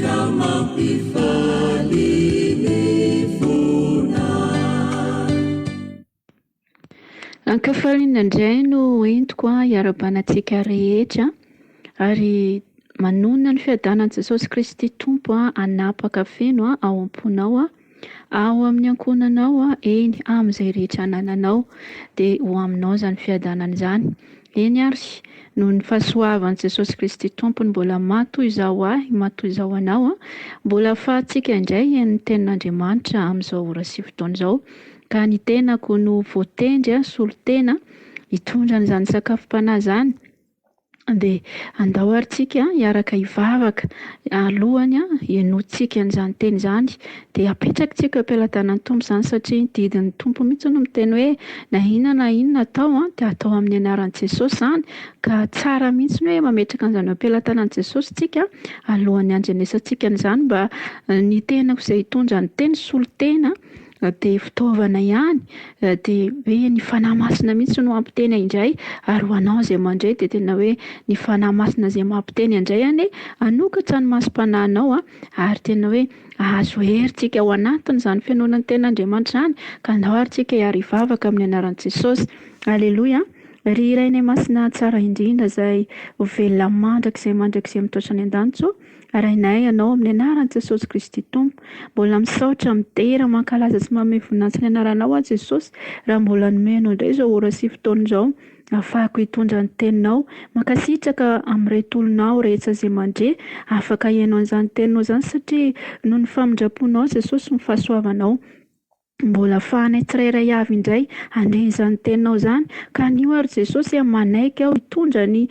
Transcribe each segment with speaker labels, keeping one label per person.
Speaker 1: ka mampifaly ny fona. Ankafaly nandray no entiko hiara-bana antsika rehetra ary manonona ny fiadanan'i Jesosy Kristy Tompo hanapaka feno ao am-ponao. Ao amin'ny ankohonanao, eny, amin'izay rehetra anananao, dia ho aminao izany fiadanana izany. Eny àry, noho ny fahasoavan'i Jesosy Kristy Tompony mbola matoa izaho ho ahy, matoa izaho ho anao, mbola ahafahantsika indray hihaino ny Tenin'Andriamanitra amin'izao ora sy fotoana izao. Ka ny tenako no voatendry, solontena, hitondra an'izany sakafom-panahy izany. Dia andao ary tsika hiaraka hivavaka alohany henointsika an'izany teny izany. Dia apetrakitsika eo am-pelatanan'ny Tompo izany satria ny didin'ny Tompo mihitsy no miteny hoe na inona na inona atao dia atao amin'ny anaran'i Jesosy izany. Ka tsara mihitsy ny hoe mametraka an'izany eo am-pelatanan'i Jesosy tsika alohan'ny handrenesantsika an'izany mba ny tenako izay hitondra ny teny solotena. Na dia fitaovana ihany, na dia hoe ny Fanahy Masina mihitsy no hampiteny indray, ary ho anao izay mandray dia tena hoe ny Fanahy Masina izay mampiteny indray anie hanokatra ny masom-panahinao a, ary tena hoe hahazo hery tsika ao anatin'izany fihenoana ny Tenin'Andriamanitra izany, ka andao ary tsika hiara hivavaka amin'ny anaran'i Jesosy. Aleloia. Ry Rainay Masina tsara indrindra izay ho velona mandrakizay mandrakizay mitoetra any an-danitra o. Arahinay Anao amin'ny Anaran'i Jesosy Kristy Tompo. Mbola misaotra, midera, mankalaza sy manome voninahitra ny Anaranao aho Jesosy raha mbola nomenao indray izao ora sy fotoana izao hahafahako hitondra ny Teninao. Mankasitraka amin'ireto olona aho rehetsa izay mandre afaka hihaino an'izany Teninao izany satria noho ny famindramponao Jesosy sy ny fahasoavanao. Mbola fahanay tsirairay avy indray handre izany teninao izany. Ka anio ary Jesosy a, manaiky aho hitondra ny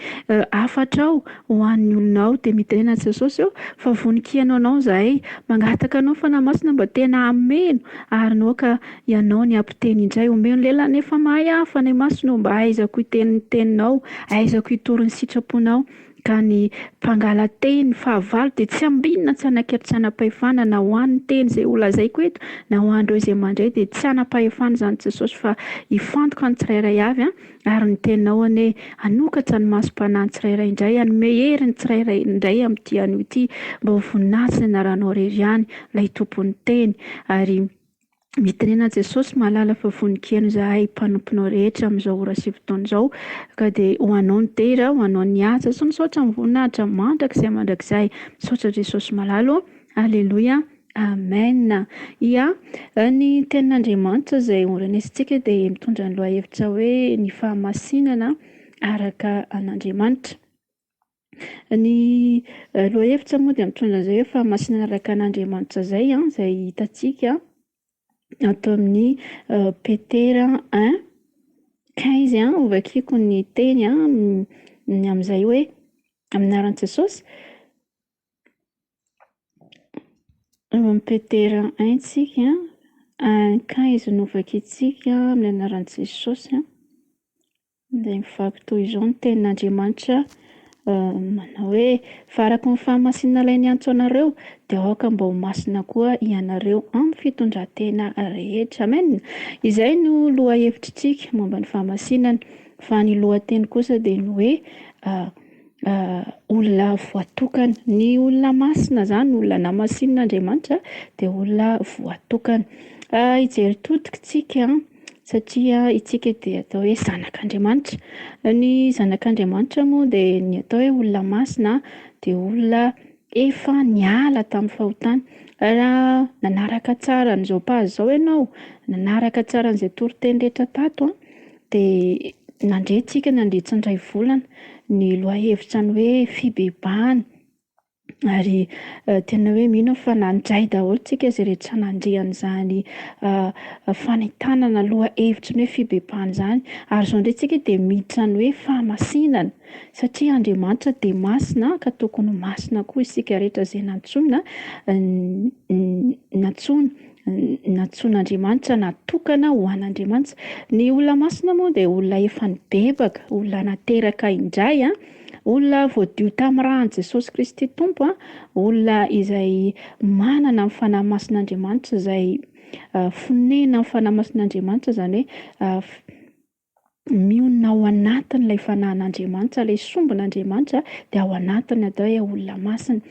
Speaker 1: hafatrao ho an'ny olonao. Dia midina an'i Jesosy aho fa vonon-kiano anao izahay. Mangataka anao Fanahy Masina mba tena hameno ary naoka ianao ny hampiteny indray. Omeo ny lelany efa mahay aho Fanahy Masina o, mba ahaizako hiteny ny teninao, ahaizako hitory ny sitraponao. Ka ny mpangala-tehiny fahavalo dia tsy ambinina tsy hanakaiky tsy hanam-pahefana na ho an' ny teny izay holazaiko eto na ho an' ireo izay mandray dia tsy hanam-pahefana izany Jesosy fa hifantoka ny tsirairay avy ary ny teninao anie hanokatra ny masom-panahy ny tsirairay indray hanome hery ny tsirairay indray amin' ity anio ity mba ho voninahitry ny anaranao irery ihany ilay tompon' ny teny ary Mitenena Jesosy, Mahalala fa voninkieno Izahay mpanomponao rehetra amin'izao ora sy fotoana izao, ka dia ho Anao ny dera, ho Anao ny haja sy ny saotra amin'ny voninahitra mandrakizay mandrakizay. Misaotra Jesosy malala ô! Aleloia! Amen! Ia, ny Tenin'Andriamanitra izay horenesintsika dia mitondra ny lohahevitra hoe ny fahamasinana araka an'Andriamanitra. Ny lohahevitra moa dia mitondra an'izay hoe fahamasinana araka an'Andriamanitra izay an, izay hitantsika ato amin'ny Petera un quinze an, hovakiko ny teny ny amin'izay hoe amin'ny anaran'i Jesosy, ao amin'ny Petera un tsika un quinze no hovakintsika amin'ny anaran'i Jesosy an. Dia mivaky toy izao ny tenin'Andriamanitra manao hoe fa araka ny fahamasinana ilay niantso anareo de aoka mba ho masina koa ianareo amin'ny fitondratena rehetra. Amen! Izay no lohahevitr'isika momba ny fahamasinana fa ny lohateny kosa dia ny hoe olona voatokana, ny olona masina zany olona namasinin'Andriamanitra de olona voatokana, hijery todika isika satria isika dia atao hoe zanak'Andriamanitra, ny zanak'Andriamanitra moa de ny atao hoe olona masina de olona Efa niala tamin'ny fahotany. Raha nanaraka tsara an'izao page izao ianao, nanaraka tsara an'izay toriteny rehetra tato a, de nandre tsika nandritra ny iray volana ny lohahevitra ny hoe fibebahana ary tena hoe mino aho fa nandray daholo tsika izay rehetra nandre an'izany fanentanana lohahevitry ny hoe fibebahana izany. Ary izao indray tsika dia miditra ny hoe fahamasinana. Satria Andriamanitra dia masina ka tokony ho masina koa isika rehetra izay nantsoina nantsoina nantsoin'Andriamanitra natokana ho an'Andriamanitra. Ny olona masina moa dia olona efa nibebaka, olona nateraka indray, olona voadio tamin'ny ran'i Jesosy Kristy Tompo, olona izay manana ny fanahy masin'Andriamanitra izay fonenan'ny fanahy masin'Andriamanitra izany hoe mionona ao anatin'ilay fanahin'Andriamanitra, ilay sombin'Andriamanitra dia ao anatiny atao hoe olona masina.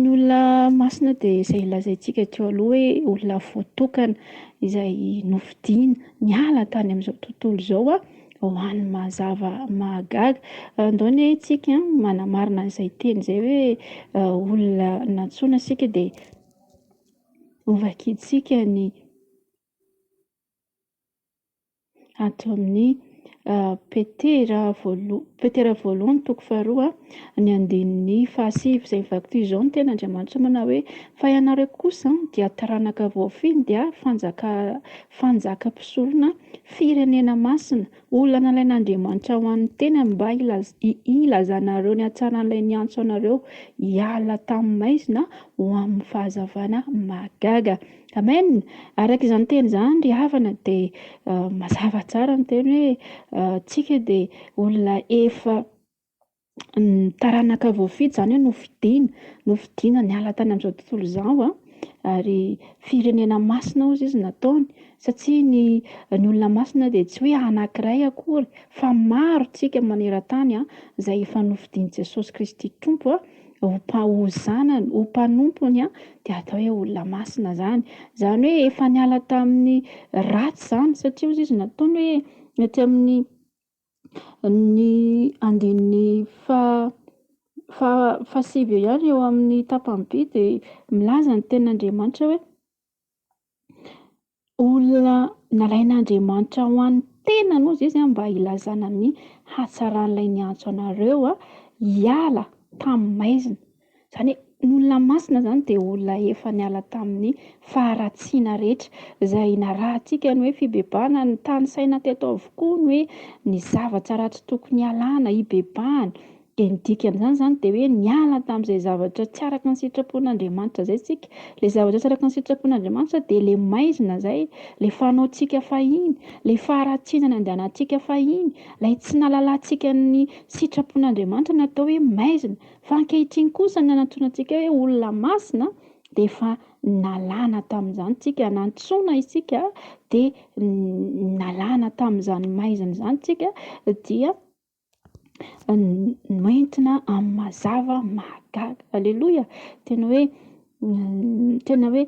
Speaker 1: Ny olona masina dia izay lazaintsika teo aloha hoe olona voatokana izay nofidiana niala tany amin'izao tontolo izao ho an'ny mazava mahagaga. Andao anie isika manamarina an'izay teny izay hoe olona nantsoina isika dia hovakintsika ny ato amin'ny Petera voaloha- Petera voalohany toko faharoa ny andininy fahasivy izay mivaky toy izao ny teny Andriamanitra manao hoe, Fa ianareo kosa dia taranaka voafidy dia fanjaka- fanjaka mpisorona, firenena masina, olona nalain'Andriamanitra ho an'ny tenany mba hilaz- hilazanareo ny hatsaran'ilay niantso anareo hiala tamin'ny maizina ho amin'ny fahazavana mahagaga. Amen! Araka izany teny izany ry havana dia mazava tsara ny teny hoe tsika dia olona efa taranaka voafidy izany hoe nofidina, nofidina niala tany amin'izao tontolo izao an! ary firenena masina hozy izy nataony satsia ny ny olona masina dia tsy hoe anakiray akory fa maro tsika maneran-tany izay efa nofidin'i Jesosy Kristy Tompo an! ho mpaho zanany, ho mpanompony an, dia atao hoe olona masina izany. Izany hoe efa niala tamin'ny ratsy izany satria hozy izy nataony hoe ny aty amin'ny ny andininy faha faha fahasivy eo ihany eo amin'ny tapany vy dia milaza ny tenin'Andriamanitra hoe. olona nalain'Andriamanitra ho an'ny tenany ozy izy mba hilazana ny hatsaran'ilay niantso anareo hiala tamin'ny maizina, izany hoe ny olona masina izany dia olona efa niala tamin'ny faharatsiana rehetra, izay narahantsika ny hoe fibebahana, nitanisaina teto avokoa ny hoe ny zavatra ratsy tokony hialana, hibebahana. Dia ny dikan'izany izany dia hoe niala tamin'izay zavatra tsy araka ny sitrapon'Andriamanitra izay isika. Ilay zavatra tsy araka ny sitrapon'Andriamanitra dia ilay maizina izay, ilay fanaontsika fahiny, ilay faharatsiana nandehanantsika fahiny, ilay tsy nahalalantsika ny sitrapon'Andriamanitra no atao hoe maizina. Fa ankehitriny kosa ny nanantsoina antsika hoe olona masina dia efa nalana tamin'izany isika, nantsoina isika dia nalana tamin'izany maizina izany isika dia noentina amin'ny mazava mahagaga. Aleloia! Tena hoe tena hoe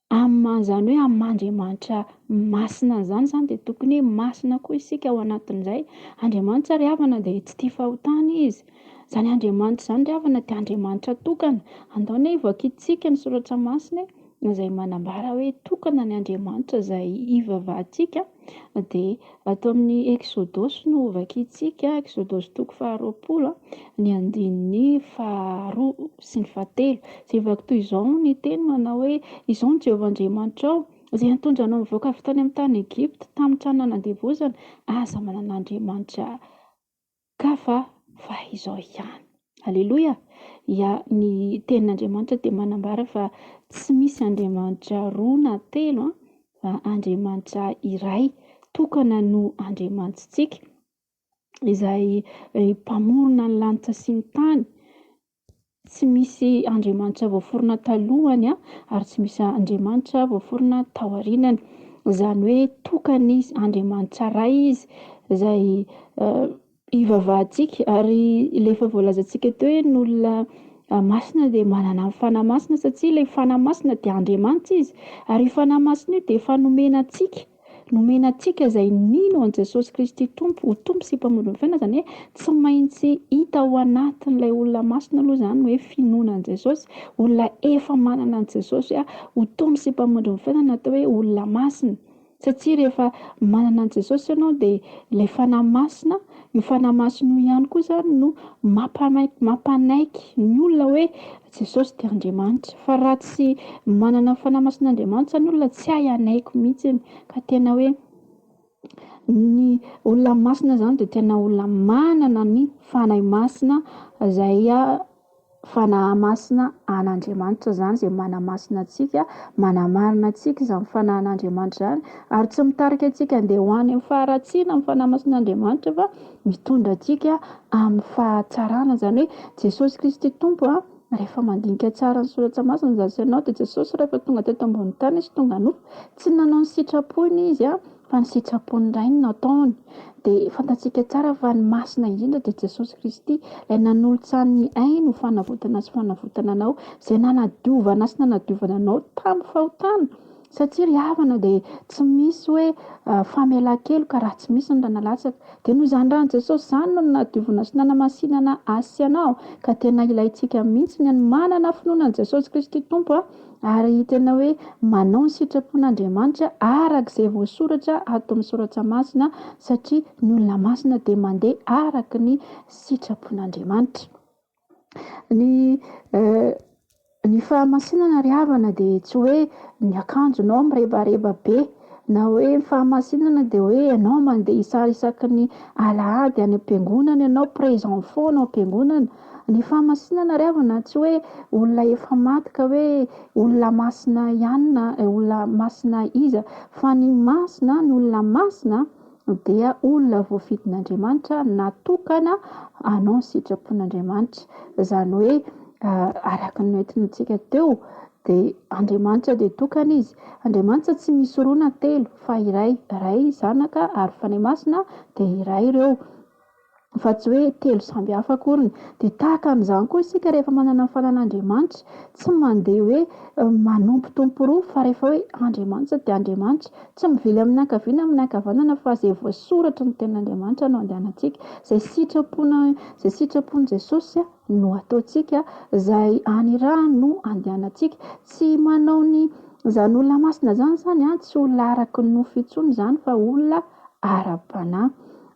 Speaker 1: amin'ny izany hoe amin'Andriamanitra masina izany izany dia tokony hoe masina koa isika ao anatin'izay. Andriamanitra ry havana dia tsy tia fahotana Izy. Izany Andriamanitra izany ry havana dia Andriamanitra tokana. Andao anie hovakintsika ny soratra masina e, izay manambara hoe tokana ny Andriamanitra izay hivavahantsika an. dia ato amin'ny Eksodosy no hovakintsika, Eksodosy toko faharoapolo ny andininy faharoa sy ny fahatelo. Izay vaky toy izao ny teny manao hoe Izao ny Jehovah Andriamanitrao, izay nitondra anao nivoaka avy tany amin'ny tany Egypta, tamin'ny tranonana an-devozana, aza manana andriamanitra Kafa fa izao ihany. Aleloia! Ia, ny Tenin'Andriamanitra dia manambara fa tsy misy Andriamanitra roa na telo an, fa Andriamanitra iray tokana no Andriamanitsika, Izay Mpamorona ny lanitra sy ny tany, Tsy misy Andriamanitra voaforona talohany ary tsy misy Andriamanitra voaforona taorianany. Izany hoe tokana izy, Andriamanitra iray izy izay ivavahantsika. Ary ilay efa voalazantsika teo hoe ny olona masina dia manana ny fanahy masina satria ilay fanahy masina dia Andriamanitra izy. Ary io fanahy masina io dia efa nomena antsika Nomena antsika izay nino an'i Jesosy Kristy Tompo ho Tompo sy Mpamonjy ny fiainana, izany hoe tsy maintsy hita ao anatin'ilay olona masina aloha izany ny hoe finoana an'i Jesosy, olona efa manana an'i Jesosy ho Tompo sy Mpamonjy ny fiainana no atao hoe olona masina. Satria rehefa manana an'i Jesosy ianao dia ilay Fanahy Masina, io Fanahy Masina io ihany koa izany no mampanaiky ny olona hoe Jesosy dia Andriamanitra. Fa raha tsy manana ny Fanahy Masin'Andriamanitra ny olona, tsy hay hanaiky mihitsiny. Ka tena hoe ny olona masina izany dia tena olona manana ny Fanahy Masina izay Fanahy Masina an'Andriamanitra izany izay manamasina antsika, manamarina antsika izany Fanahin'Andriamanitra izany. Ary tsy mitarika antsika handeha ho any amin'ny faharatsiana ny Fanahy Masin'Andriamanitra fa Mitondra antsika amin'ny fahatsarana, izany hoe Jesosy Kristy Tompo a! Rehefa mandinika tsara ny Soratra Masina za sy ianao dia Jesosy rehefa tonga teto ambonin'ny tany Izy tonga nofo, tsy nanao ny sitrapony Izy a, fa ny sitrapon'ny Rainy no ataony. Dia fantatsika tsara fa ny Masina indrindra dia Jesosy Kristy, Ilay nanolotsany ny Ainy ho fanavotana sy fanavotana anao, Izay nanadiovana sy nanadiovana anao tamin'ny fahotana. Satsia ry havana dia tsy misy hoe famelan-keloka raha tsy misy ny rà nalatsaka. Dia noho izany ràn'i Jesosy izany no nadiovina sy nanamasinana ahy sy anao. Ka tena ilaintsika mihitsy ny manana finoana an'i Jesosy Kristy Tompo ary tena hoe manao ny sitrapon'Andriamanitra araka izay voasoratra ato amin'ny soratra masina satria ny olona masina dia mandeha araka ny sitrapon'Andriamanitra. Ny ny fahamasinana ry havana de tsy hoe ny akanjonao mirebareba be, na hoe ny fahamasinana de hoe enao mandeha isa- isaky ny alahady any am-piangonana enao, présent fort any am-piangonana, ny fahamasinana ry havana tsy hoe olona efa maty ka hoe olona masina ihany na olona masina iza fa ny masina, ny olona masina. dia olona voafidin'Andriamanitra natokana hanao ny sitrapon'Andriamanitra. Izany hoe araka ny noentintsika teo dia Andriamanitra dia tokana izy. Andriamanitra tsy misy roa na telo fa iray, Ray, Zanaka ary Fanahy Masina dia iray ireo. fa tsy hoe telo samby hafa akoriny. Dia tahaka an'izany koa isika rehefa manana ny fanan'Andriamanitra, tsy mandeha hoe manompotompo roa fa rehefa hoe Andriamanitra dia Andriamanitra. Tsy mivily amin'ny ankaviana na amin'ny ankavanana fa izay voasoratry ny tenin'Andriamanitra no andehanantsika. Izay sitrapona izay sitrapon'i Jesosy no ataontsika, izay anirahany no andehanantsika. Tsy manao ny izany olona masina izany izany an, tsy olona araka ny nofo intsony izany fa olona ara-panahy.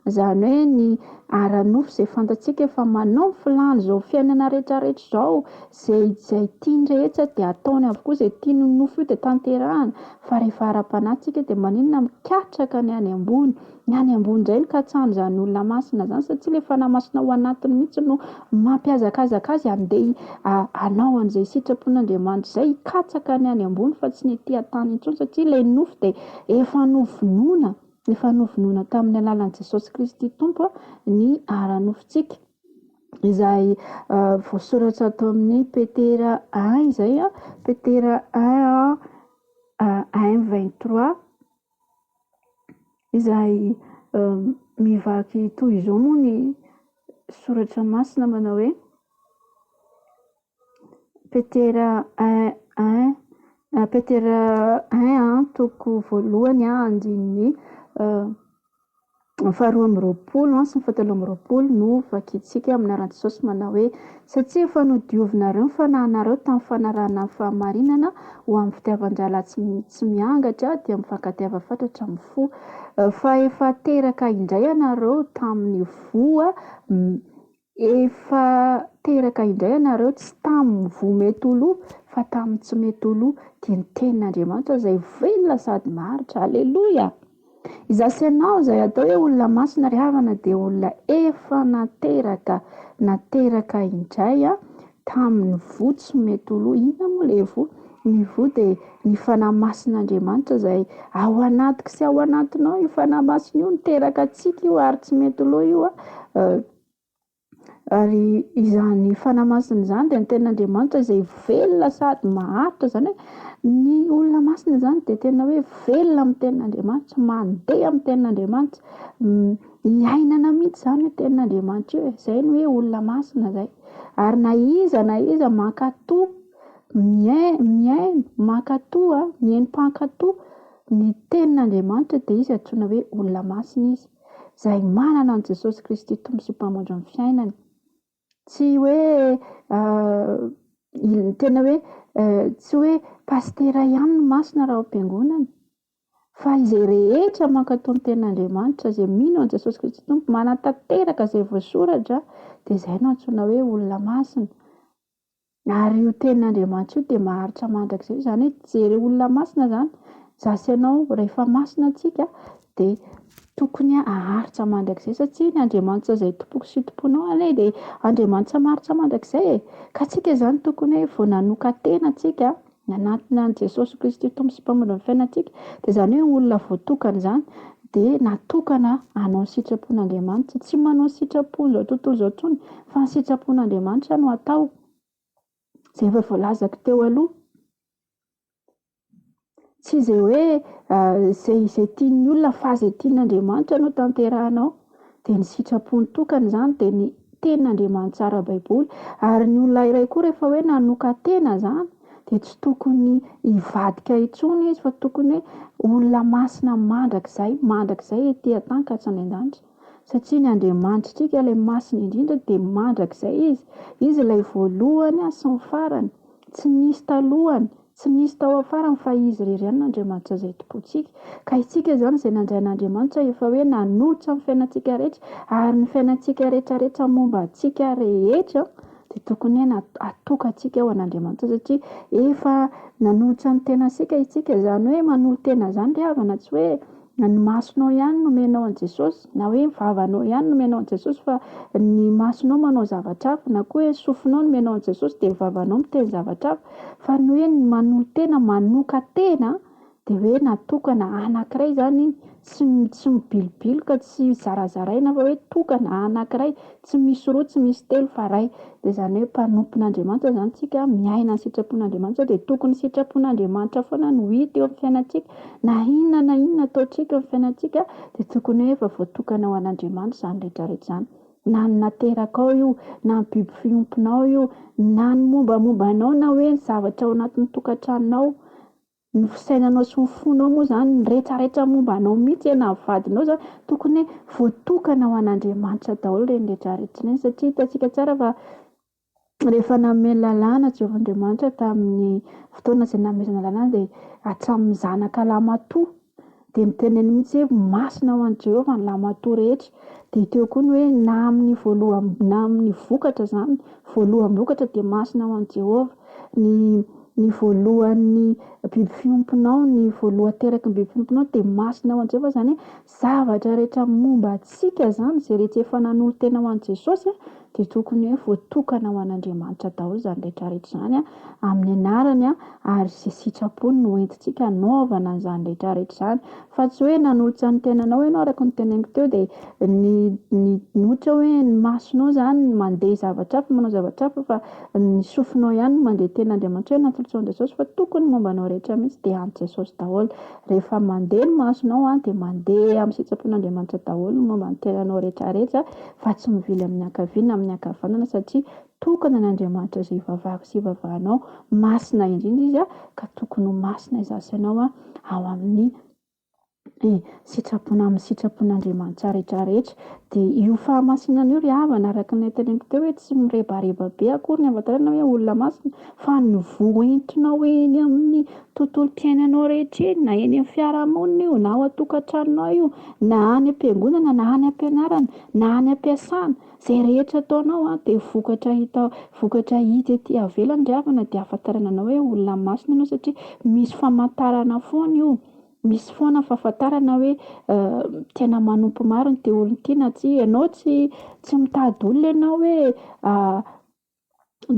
Speaker 1: Izany hoe ny ara-nofo izay fantatsika fa manao ny filàny izao fiainana rehetrarehetra izao, izay izay tiany rehetra dia ataony avokoa, izay tiany io nofo io dia tanterahany, fa rehefa ara-panahy tsika dia maninona mikatraka ny any ambony, ny any ambony indray no katsahan'izany olona masina izany satria ilay fanahy masina ao anatiny mihintsy no mampihazakazaka azy handeha hanao an'izay sitrapon'Andriamanitra izay, hikatsaka ny any ambony fa tsy ny ety an-tany intsony satria ilay nofo dia efa novonoina. Efa novonoina tamin'ny alalan'i Jesosy Kristy Tompo ny ara-nofontsika, izay voasoratra ato amin'ny Petera un izay, Petera un un vingt trois, izay mivaky toy izao moa ny soratra masina manao hoe. Petera Petera toko voalohany andininy faharoa amby roapolo sy ny fahatelo amby roapolo no vakintsika amin'ny anaran'i Jesosy manao hoe satria efa nodiovinareo ny fanahinareo tamin'ny fanarahana ny fahamarinana ho amin'ny fitiavan-drahalahy tsy miangatra dia mifankatiava fatratra amin'ny fo fa efa teraka indray ianareo tamin'ny voa Efa teraka indray ianareo tsy tamin'ny voa mety ho lo fa tamin'ny tsy mety ho lo dia ny tenin'Andriamanitra izay velona sady maharitra aleloia! Izaho sy ianao izay atao hoe olona masina ry havana dia olona efa nateraka nateraka indray Tamin'ny voa tsy mety ho lo. Inona moa ilay voa? Ny voa dia ny fanahy masin'Andriamanitra izay ao anatiko sy ao anatinao. Io fanahy masina io niteraka antsika io ary tsy mety ho lo io. Ary izany fanahy masina izany dia ny tenin'Andriamanitra izay velona sady maharitra. Izany hoe ny olona masina izany dia tena hoe velona amin'ny tenin'Andriamanitra, mandeha amin'ny tenin'Andriamanitra. Iainana mihitsy izany io tenin'Andriamanitra io e! Izay no hoe olona masina izay. Ary na iza na iza mankato mihaino, mankato, mihaino mpankato ny tenin'Andriamanitra dia izy antsoina hoe olona masina izy. Izay manana an'i Jesosy Kristy Tompo sy Mpamondro ny fiainany. Tsy hoe il- tena hoe tsy hoe pasitera ihany no masina raha ao am-piangonana, fa izay rehetra mankatò ny tenin'Andriamanitra, izay mino an'i Jesosy Kristy Tompo, manatanteraka izay voasoratra, dia izay no antsoina hoe olona masina. Ary io tenin'Andriamanitra io dia maharitra mandrakizay, izany hoe jereo olona masina izany za sy ianao, rehefa masina antsika dia tokony aharitra mandrakizay satria ny Andriamanitra izay tompoko sy tomponao anie dia Andriamanitra maharitra mandrakizay e, ka tsika izany tokony hoe vao nanokan-tena tsika nanatona an'i Jesosy Kristy ho Tompo sy Mpamonjin'ny fiainantsika, dia izany hoe olona voatokana izany, dia natokana hanao ny sitrapon'Andriamanitra. Tsy manao ny sitrapon'izao tontolo izao intsony, fa ny sitrapon'Andriamanitra no hatao, izay efa voalazako teo aloha. Tsy izay hoe izay izay tian'ny olona, fa izay tian'Andriamanitra no tanterahina ao. dia ny sitrapony tokana izany dia ny tenin'Andriamanitra tsara ara-baiboly, ary ny olona iray koa rehefa hoe nanokan-tena izany dia tsy tokony hivadika intsony izy fa tokony hoe olona masina mandrakizay, mandrakizay ety an-tany ka hatrany an-danitra, satria ny Andriamanitritsika ilay masina indrindra dia mandrakizay izy, izy ilay voalohany sy ny farany, tsy nisy talohany. Tsy nisy tao afarany fa Izy irery ihany n'Andriamanitra izay Tompontsika. Ka isika izany izay nandray an'Andriamanitra efa hoe nanolotra ny fiainantsika rehetra, ary ny fiainantsika rehetrarehetra momba antsika rehetra dia tokony hoe na atokantsika ho an'Andriamanitra satria efa nanolotra ny tenantsika isika izany hoe manolo-tena izany ry havana tsy hoe Na ny masonao ihany no omenao an'i Jesosy, na hoe ny vavanao ihany no omenao an'i Jesosy fa ny masonao manao zavatra hafa, na koa hoe sofinao no omenao an'i Jesosy dia ny vavanao miteny zavatra hafa, fa ny hoe ny manolo-tena, manokan-tena an, dia hoe natokana anankiray izany iny, tsy tsy mibilobiloka, tsy zarazaraina fa hoe tokana anankiray, Tsy misy roa, tsy misy telo fa Ray. Dia izany hoe mpanompon'Andriamanitra izany isika, miaina ny sitrapon'Andriamanitra dia tokony sitrapon'Andriamanitra foana no hita eo amin'ny fiainantsika. Na inona na inona ataontsika eo amin'ny fiainantsika dia tokony hoe efa voatokana ho an'Andriamanitra izany rehetra rehetra izany. Na ny naterakao io, na ny biby fiompinao io, na ny mombamomba anao na hoe ny zavatra ao anatin'ny tokantranonao. Ny fisainanao sy ny fonao moa izany, ny rehetrarehetra momba anao mihitsy hoe na ny vadinao izany, tokony hoe voatokana ho an'Andriamanitra daholo ireny rehetrarehetra ireny, satria hitantsika tsara fa rehefa nanome lalàna Jehovah Andriamanitra tamin'ny fotoana izay nanomezana lalàna dia hatramin'ny zanaka lahy matoa Dia noteneniny mihitsy hoe masina ho an'i Jehovah ny lahimatoa rehetra. Dia teo koa ny hoe na amin'ny voaloham- na amin'ny vokatra izany, voaloham-bokatra dia masina ho an'i Jehovah. Ny ny voalohan'ny biby fiompinao, ny voalohan-teraky ny biby fiompinao dia masina ho an'i Jehovah. Izany hoe zavatra rehetra momba antsika izany, izay rehetra efa nanolo-tena ho an'i Jesosy a. dia tokony hoe voatokana ho an'Andriamanitra daholo izany rehetrarehetra izany amin'ny anarany ary izay sitrapony no entintsika hanaovana an'izany rehetrarehetra izany fa tsy hoe nanolotra ny tenanao ianao araka ny teneninko teo dia ny ny ohatra hoe ny masonao izany no mandeha zavatra hafa manao zavatra hafa fa ny sofinao ihany no mandeha ny tenan'Andriamanitra hoe natolotran'i Jesosy fa tokony momba anao rehetra mihintsy dia an'i Jesosy daholo Rehefa mandeha ny masonao a, dia mandeha amin'ny sitrapon'Andriamanitra daholo ny momba ny tenanao rehetrarehetra fa tsy mivily amin'ny ankavia na amin'ny ankavanana satria tokana an'Andriamanitra izay ivavahako sy ivavahanao, masina indrindra Izy a, ka tokony ho masina izaho sy ianao a, ao amin'ny sitrapon-, amin'ny sitrapon'Andriamanitra rehetrarehetra. Dia io fahamasinana io ry havana araka ny teneniko teo hoe tsy mirebareba be akory ny hahafantarana hoe olona masina fa ny voa entinao eny amin'ny tontolom-piainanao rehetra eny, na eny amin'ny fiarahamonina io, na ao an-tokantranonao io, na any am-piangonana, na any am-pianarana, na any am-piasana, izay rehetra ataonao a, dia vokatra hita, vokatra hita ety ivelany ry havana, dia ahafantarana anao hoe olona masina ianao satria misy famantarana foana io, misy foana fahafantarana hoe tena manompo marina ity olona ity na tsia, ianao tsy, tsy mitady olona ianao hoe.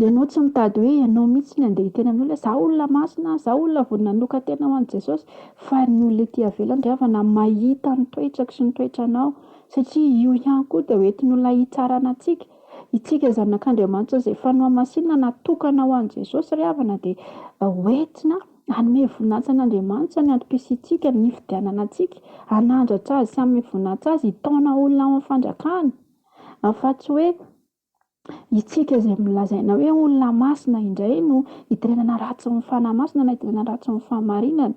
Speaker 1: Ianao tsy mitady hoe ianao mihitsy no handeha hiteny amin'olona hoe izaho olona masina, izaho olona vao nanokan-tena ho an'i Jesosy, fa ny olona ety ivelany ry havana mahita ny toetrako sy ny toetranao, satria io ihany koa dia hoentin'olona hitsarana antsika. Isika zanak'Andriamanitra izay efa nohamasinina, natokana ho an'i Jesosy ry havana dia hoentina hanome voninahitra an'Andriamanitra ny antom-pisiantsika, ny hifidianana antsika hanandratra Azy sy hanome voninahitra Azy, hitaona olona ao amin'ny Fandrakany, fa tsy hoe. Isika izay milazaina hoe olona masina indray no iterenana ratsy ny fanahy masina na iterenana ratsy ny fahamarinana.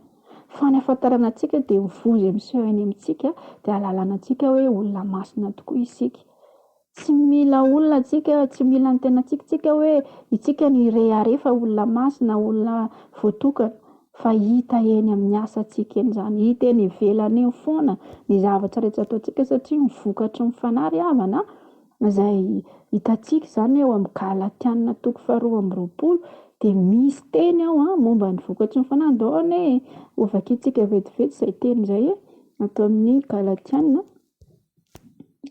Speaker 1: Fa ny ahafantarana antsika dia ny voa izay miseho eny amintsika dia ahalalana antsika hoe olona masina tokoa isika. Tsy mila olona tsika, tsy mila ny tenantsika tsika hoe itsika no hirehareha fa olona masina, olona voatokana. Fa hita eny amin'ny asantsika eny izany, hita eny ivelany eny foana ny zavatra rehetra ataontsika satria ny vokatry ny fanahy ry havana a. Izay hitantsika izany eo amin'ny Galatiana toko faharoa amby roapolo dia misy teny ao a, momba ny vokatry ny fanandohana e. Hovakintsika vetivety izay teny izay e, ato amin'ny Galatiana,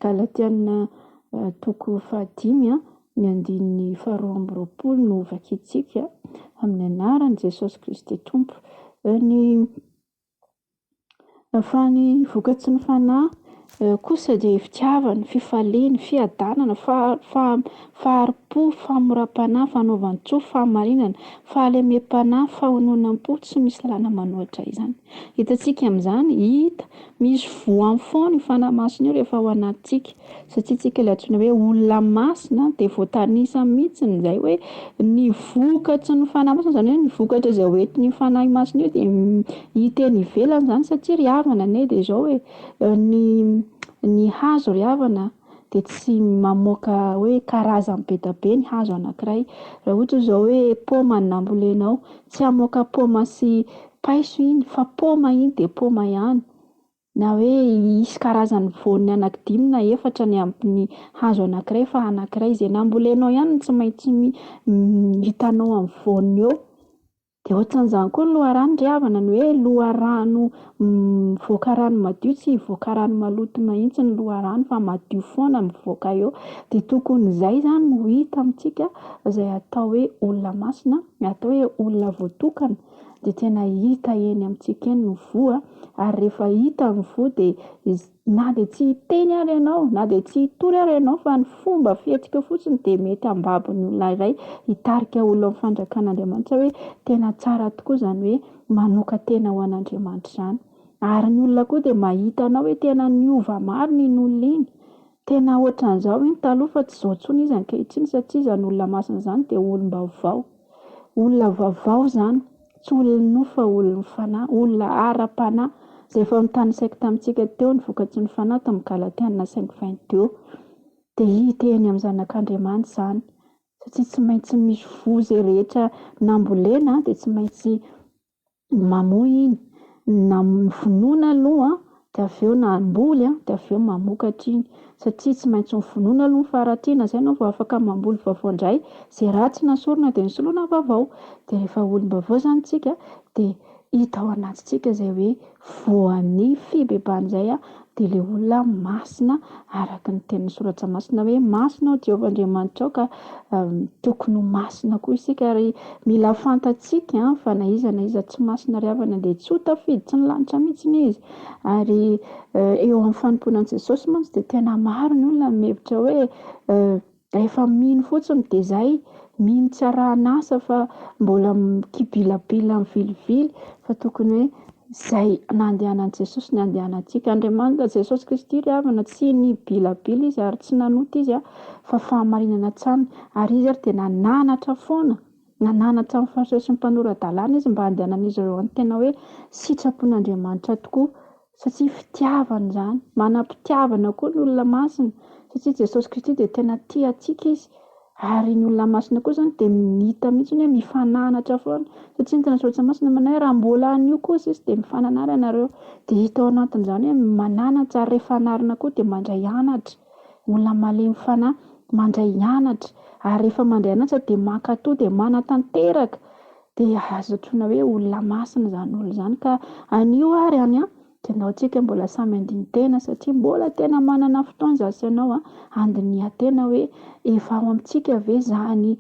Speaker 1: Galatiana toko fahadimy a, ny andininy faharoa amby roapolo no hovakintsika, amin'ny anaran'i Jesosy Kristy Tompo. Ny Fa ny vokatry ny fanahy kosa dia fitiavana, fifaliana, fiadanana, faha- faha- fahari-po, famoram-panahy, fanaovan-tsoa, fahamarinana, fahalemem-panahy, fahononam-po, tsy misy lalana manoatra izany. Hitantsika amin'izany, hita, misy voany foana io fanahy masina io rehefa ao anatintsika. Satria tsika ilay antsoina hoe olona masina de voatanisa mihitsiny izay hoe ny vokatry ny fanahy masina izany hoe ny vokatra izay ho entin'io fanahy masina io de hita eny ivelany izany satria ry havana anie de izao e, ny ny hazo ry havana de tsy mamoka hoe karazany be dia be ny hazo anakiray, raha ohatra izao hoe paoma no nambolenao tsy hamoka paoma sy paiso iny fa paoma iny de paoma ihany. Na hoe hisy karazany voany anaky dimy na efatra ny amin'ny hazo anakiray fa anakiray izay nambolenao ihany no tsy maintsy mi- hitanao amin'ny voany eo. De otran'izany koa ny loharano ry havana ny hoe loharano mivoaka rano madio tsy hivoaka rano maloto mihitsy ny loharano fa madio foana mivoaka eo. De tokony izay izany no hita amintsika izay atao hoe olona masina na atao hoe olona voatokana. dia tena hita eny amintsika eny ny voa ary rehefa hita ny voa dia iz- na dia tsy hiteny ary ianao na dia tsy hitory ary ianao fa ny fomba fihetsiky fotsiny dia mety hambabo ny olona iray hitarika olona amin'ny fanjakan'Andriamanitra hoe tena tsara tokoa izany hoe manokan-tena ho an'Andriamanitra izany. Ary ny olona koa dia mahita anao hoe tena niova marina iny olona iny, tena ohatran'izao iny taloha fa tsy izao intsony izy ankehitriny satria izany olona masina izany dia olom-baovao. Olona vaovao izany, tsy olon'ny nofo fa olon'ny fanahy, olona ara-panahy. Izay efa notanisaiko tamintsika teo ny vokatry ny fanahy tamin'ny Galatiana cinq vingt deux. Dia hita eny amin'ny zanak'Andriamanitra izany, satria tsy maintsy misy voa izay rehetra nambolena dia tsy maintsy mamoy iny, na mivonona aloha dia avy eo na hamboly dia avy eo mamokatra iny, satria tsy maintsy mivonona aloha ny faharatsiana izay ianao vao afaka mamboly vaovao indray, izay ratsy nasorina dia nosoloina vaovao, dia rehefa olom-baovao izany isika dia hita ao anatintsika izay hoe Voan'ny fibebahana izay dia ilay olona masina araka ny tenin'ny soratra masina hoe masina ao Jehovah Andriamanitrao ka tokony ho masina koa isika ary mila fantatsika fa na iza na iza tsy masina ry havana dia tsy ho tafiditry ny lanitra mihitsy izy ary eo amin'ny fanompoana an'i Jesosy mantsy dia tena maro ny olona mihevitra hoe Rehefa mino fotsiny dia zay, mino tsy arahan'asa fa mbola mikibilabila mivilivily fa tokony hoe zay nandehanan'i Jesosy no andehanantsika. Andriamanitra Jesosy Kristy ry havana tsy nibilabila izy ary tsy nanota izy fa fahamarinana hatrany ary izy ary dia nananatra foana, nananatra ny Fariseo sy ny mpanora-dalàna izy mba handehanan'izy ireo amin'ny tena hoe sitrapon'Andriamanitra tokoa. Satria fitiavana izany. Manam-pitiavana koa ny olona masina, satria Jesosy Kristy dia tena tia antsika Izy. Ary ny olona masina koa izany dia mita mihitsy hoe mifananatra foana. Satria ny Tenan'ny Soratra Masina manao hoe raha mbola anio kosa izy dia mifananara ianareo. Dia hita ao anatin'izany hoe mananatra ary rehefa anarina koa dia mandray anatra. Ny olona malemy fanahy mandray anatra. Ary rehefa mandray anatra dia mankatò dia manatanteraka. Dia azo antsoina hoe olona masina izany olona izany ka anio ary any an, dia ianao tsika mbola samy handini-tena satria mbola tena manana fotoana izaho sy ianao an, handinihan-tena hoe efa ao amintsika ve izany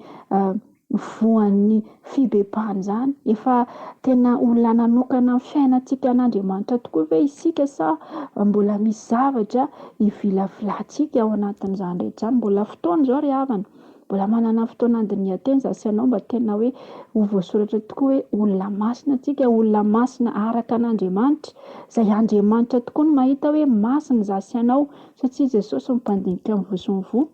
Speaker 1: voan'ny fibebahana izany? Efa tena olona nanokana ny fiainantsika an'Andriamanitra tokoa ve isika sa mbola misy zavatra ivilavilantsika ao anatin'izany rehetra izany? Mbola fotoana izao ry havana. Mbola manana fotoana handinihan-teny izany sy hanao mba tena hoe ho voasoratra tokoa hoe olona masina isika, olona masina araka an'Andriamanitra, izay Andriamanitra tokoa no mahita hoe masina izaho sy ianao satria Jesosy no mpandinika ny voa sy ny voa.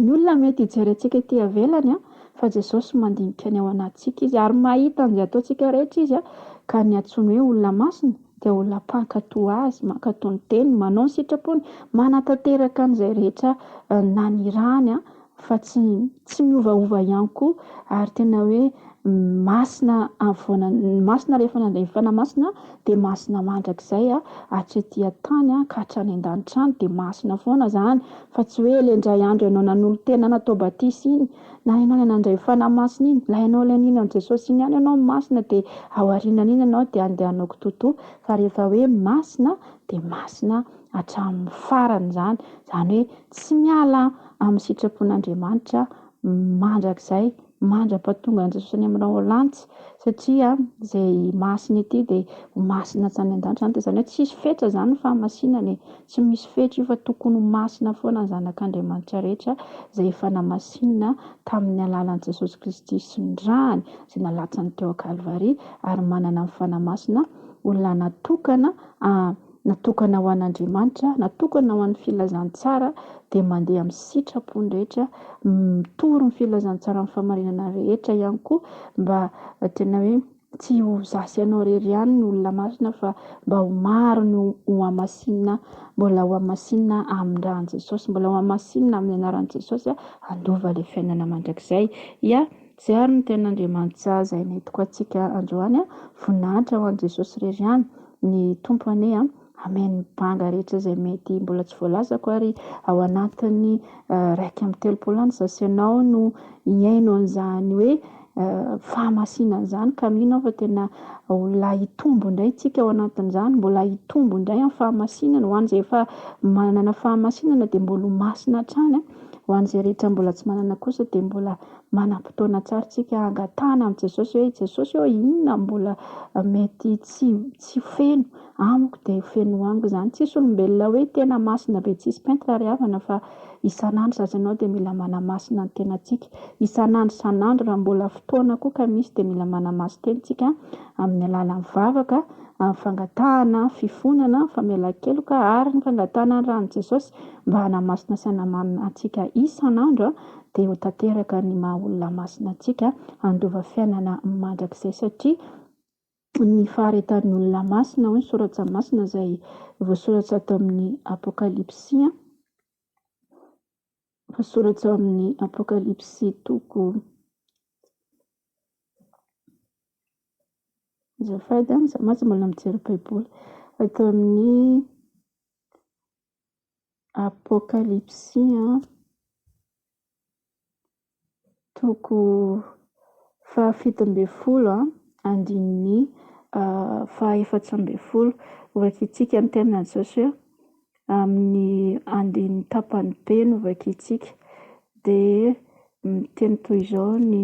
Speaker 1: Ny olona mety hijery antsika ety ivelany fa Jesosy mandinika ny ao anatintsika Izy ary mahita an'izay ataontsika rehetra Izy ka ny antsoiny hoe olona masina dia ho lapan-katoa azy, mankatoa ny teniny, manao ny sitrapony, manatanteraka an'izay rehetra nanirahany fa tsy tsy miovaova ihany koa ary tena hoe masina afovoana, masina rehefa nandray ny Fanahy Masina dia masina mandrakizay hatry ety an-tany ka hatrany an-danitra any dia masina foana izany fa tsy hoe ilay indray andro ianao nanolo-tena natao batisa iny Na ianao ilay nandray ho Fanahy Masina iny, na ianao ilay nino an'i Jesosy iny ihany ianao masina dia ao aorianan'iny ianao dia andehananao kitoatoa fa rehefa hoe masina dia masina hatramin'ny farany izany, izany hoe tsy miala amin'ny sitrapon'Andriamanitra mandrakizay mandra-pahatongan'i Jesosy any amin'ireo lanitra satria izay masina ety dia ho masina hatrany an-danitra izany dia izany hoe tsisy fetra izany ny fahamasinana e! Tsy misy fetra io fa tokony ho masina foana ny zanak'Andriamanitra rehetra izay efa namasinina tamin'ny alalan'i Jesosy Kristy sy ny rany izay nalatsany teo an-Kalvary ary manana ny Fanahy Masina, olona natokana, ah, natokana ho an'Andriamanitra, natokana ho an'ny filazantsara, dia mandeha amin'ny sitrapony rehetra, mitory ny filazantsaran'ny fahamarinana rehetra ihany koa mba tena hoe. Tsy ho za sy anao irery ihany no olona masina fa mba ho maro ny ho hamasinina mbola ho hamasinina amin'ny ran'i Jesosy, mbola ho hamasinina amin'ny anaran'i Jesosy a, handova ilay fiainana mandrakizay. Ya, izay ary no tenin'Andriamanitra izay nentiko antsika androany a, voninahitra ho an'i Jesosy irery ihany ny Tompo anie a. Hameno ny banga rehetra izay mety mbola tsy voalazako ary ao anatin'ny iraika amby telopolo andro izao sy ianao no hihaino an'izany hoe fahamasinana izany ka mino aho fa tena mbola hitombo indray isika ao anatin'izany, mbola hitombo indray amin'ny fahamasinana, ho an'izay efa manana fahamasinana dia mbola ho masina hatrany an, ho an'izay rehetra mbola tsy manana kosa dia mbola manam-potoana tsara isika hangatahana amin'i Jesosy hoe Jesosy ô inona no mbola mety tsy tsy feno. Amiko dia feno amiko izany, tsisy olombelona hoe tena masina be tsisy pentina ry havana fa isan'andro zaza ianao dia mila manamasina ny tenantsika, isan'andro isan'andro raha mbola fotoana koa ka misy dia mila manamaso tenintsika amin'ny alalan'ny vavaka, amin'ny fangatahana fifonana, ny famelan-keloka ary ny fangatahana ny ran'i Jesosy mba hanamasina sy hanamarina antsika isan'andro dia ho tanteraka ny maha olona masina antsika handova fiainana mandrakizay satria Ny faharetan'ny olona masina, hoy ny soratra masina izay voasoratra ato amin'ny Apokalypsy, voasoratra ao amin'ny Apokalypsy toko, azafady an, za mantsy mbola mijery baiboly, ato amin'ny Apokalypsy. toko fahafito ambin'ny folo andininy fahaefatra ambin'ny folo. Hovakintsika ny tenin'Andry Josoa amin'ny andininy tapany be no hovakintsika. Dia miteny toy izao ny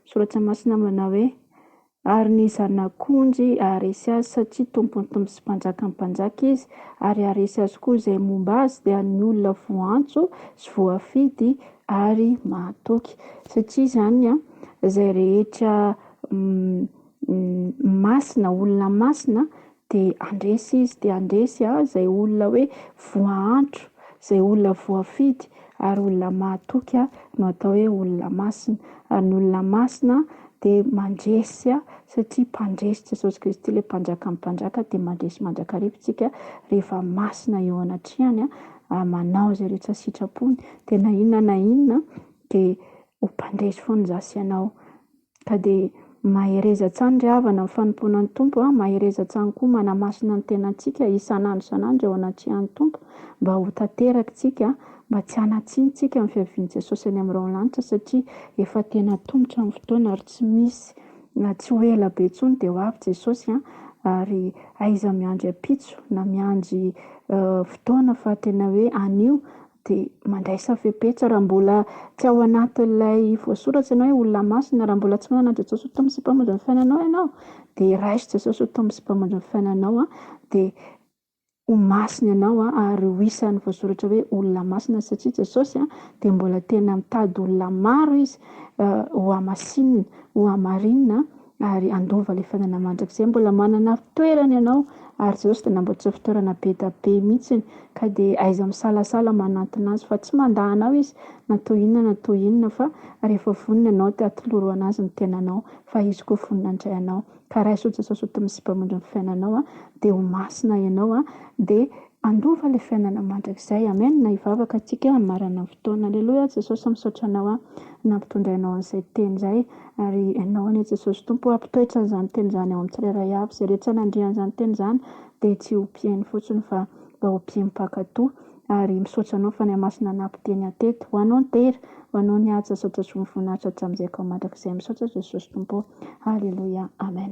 Speaker 1: soratra masina manao hoe Ary ny Zanak'ondry haharesy azy, satria Tompon'ny tompo sy Mpanjakan'ny mpanjaka izy, ary haharesy azy koa izay momba azy, dia ny olona voantso sy voafidy ary mahatoky. Satria izany, izay rehetra masina, olona masina, Dia handresy izy, dia handresy a izay olona hoe voaantro, izay olona voafidy, ary olona mahatoky a no atao hoe olona masina, ary ny olona masina dia mandresy a satria mpandresy Jesosy Kristy ilay Mpanjakan'ny mpanjaka dia mandresy mandrakariva isika rehefa masina eo anatrehany a, ary manao izay rehetra sitrapony, dia na inona na inona dia ho mpandresy foana izaho sy ianao Ka dia mahereza hatrany ry havana ny fanompoana ny Tompo a, mahereza hatrany koa manamasina ny tenantsika isan'andro isan'andro eo anatrehan'ny Tompo mba ho tanterakintsika mba tsy hanatsihitsika ny fiavian'i Jesosy any amin'ny raolanitra satria efa tena atomotra ny fotoana ary tsy misy tsy ho ela be intsony dia ho avy Jesosy a, ary aiza miandry ampitso na miandry fotoana fa tena hoe anio Dia mandraisa fepetra raha mbola tsy ao anatin'ilay voasoratra ianao hoe olona masina. Raha mbola tsy manana an'i Jesosy ho Tompo sy Mpamonjy ny fiainanao ianao, dia raiso Jesosy ho Tompo sy Mpamonjy ny fiainanao. Dia ho masina ianao ary ho isan'ny voasoratra hoe olona masina. Satria Jesosy dia mbola tena mitady olona maro Izy hohamasinina, hohamarinina. ary handova ilay fiainana mandrakizay, mbola manana fitoerana ianao, ary Jesosy dia namboatra fitoerana be dia be mihitsiny, ka dia aiza misalasala manantona Azy, fa tsy mandà anao Izy na toy inona na toy inona, fa rehefa vonona ianao dia atoloro ho an'Azy ny tenanao, fa Izy koa vonona handray anao, ka raiso Jesosy ho tompo sy mpamindra ny fiainanao, dia ho masina ianao, dia. Handova le fiainana mandrakizay. Amen na hivavaka atsika amin'ny maranan'ny fotoana. Aleloia Jesosy misaotra anao an nampitondrainao an'izay teny izay ary enao anie Jesosy Tompo hampitoetra an'izany teny izany ao amin'ny tsirairay avy izay rehetra nandria an'izany teny izany dia tsy ho mpiheno fotsiny fa mba ho mpino mpankatò ary misaotra anao Fanahy Masina nampiteny ahy teto ho anao ny tehira ho anao ny haja saotra soa mivoninahitra hatramin'izay ka ho mandrakizay misaotra Jesosy Tompo ô Aleloia Amen.